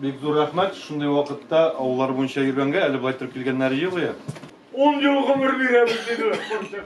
Бик зур рәхмәт, шундый вакытта авыллар буенча йөргәнгә, әле былай торып килгәннәре юк. 10 ел гомер бирәбез, диде.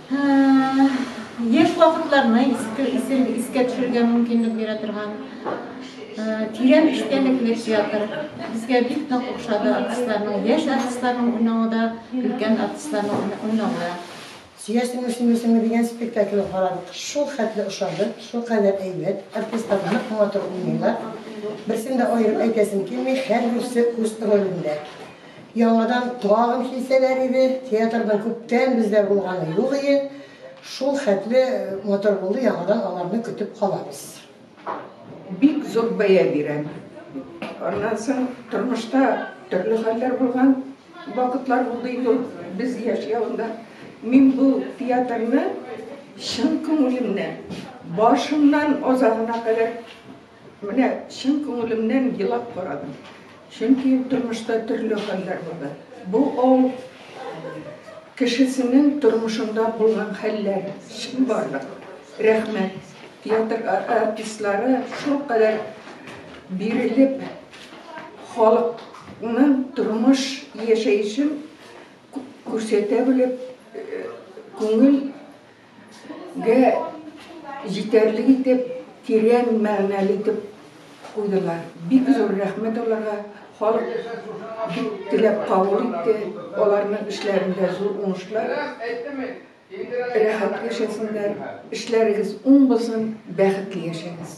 Яшь вакытларны искә төшерергә мөмкинлек бирә торган тирән эчтәлекле театр. Безгә бик нык охшады артистларның, яшь артистларның уйнавы да, өлкән артистларның уйнавы да. Сөясеңме, сөймисеңме дигән спектакльне карадык. Шул хәтле ошады, шул кадәр әйбәт, артистлар нык матур уйныйлар. Берсен дә аерып әйтәсем килми, һәрберсе үз ролендә. Яңадан тагын килсәләр иде, театрның күптән бездә булганы юк иде. Шул хәтле матур булды, яңадан аларны көтеп калабыз. Бик зур бәя бирәм. Аннан соң тормышта төрле хәлләр булган вакытлар булды инде ул без яшь явында. Мин бу театрны чын күңелемнән, башыннан азагына кадәр Менә чын күңелемнән елап карадым. Чөнки тормышта төрле хәлләр булды. Бу авыл кешесенең тормышында булган хәлләр, чынбарлык. Рәхмәт. Театр артистлары шулкадәр бирелеп, халыкның тормыш яшәешен күрсәтә белеп, күңел. Гә җитәрлек итеп, тирән мәгънәле итеп куйдылар. Бик зур рәхмәт аларга, халык бик теләп кабул итте, аларның эшләрендә зур уңышлар, рәхәт яшәсеннәр, эшләрегез уң булсын, бәхетле яшәгез!